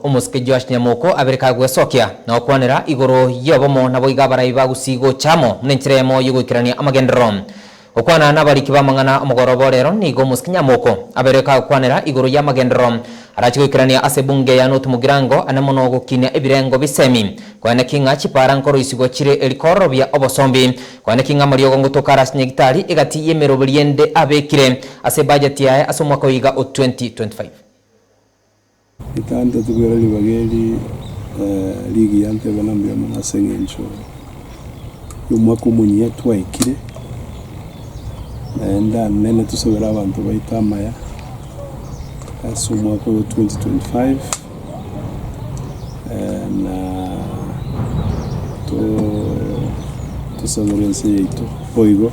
Omosike Joash nyamoko abere kagwesokia, na gokwanera igoro y'obomo, naboigo abarai bagusii gocha amo buna enchera eyemo y'ogoikerania amagenderero. Gokwana nabariki b'amang'ana omogoroba o reero nigo omosike nyamoko abere kagokwanera igoro y'amagenderero arache goikerania ase ebunge ya Notumogirango ane mono gokinia ebirengo bisemi, kweneki ng'a chipaara nkoroisigwa chire eri kororobia obosombi, kweneki ng'a amariogo ngotoka ara ase nyagitari egati y'emeroberio ende abekire ase ebajeti yaye ase omwaka oiga o 2025. Ekantetebia ore ribaga eri rigiya ntebe na mbuya mono ase engencho yomwaka omonyia twaikire, naende anene tosabere abanto baito amaya ase omwaka oyo 2025 na tosabere ense yaito boigo.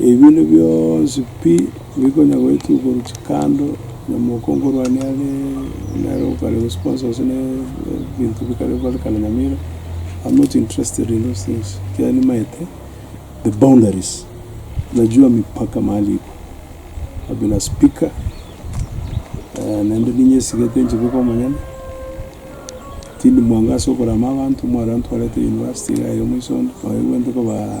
Ebinto bionsi pi mbikonya goetwa igoro chikando, na mokongo orwane are nere okare gose konsose ne ebinto bikare bare kare nyamira, am not interested in those things, ekiagera nimaete the boundaries, najua mipaka mahali iko, I've been a speaker naende ninyesigete inche boka omonyene, tindi mwango ase okorama abanto, omware ntwarete university iga aye omoiso onde, oye bwente kobaa.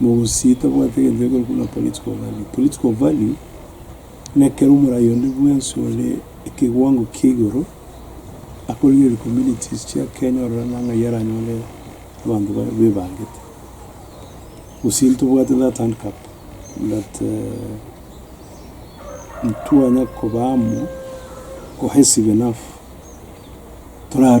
Mogosi tabwate egento gekoro buna Political Value. Political Value nekero omorai onde bwensi ore ekeguango kia igoro akorigereria communities chia Kenya ororana ng'ai aranyore abanto baye bebangete. Gose ntobwate that handcup that ntwanya koba amo cohesive enough tora.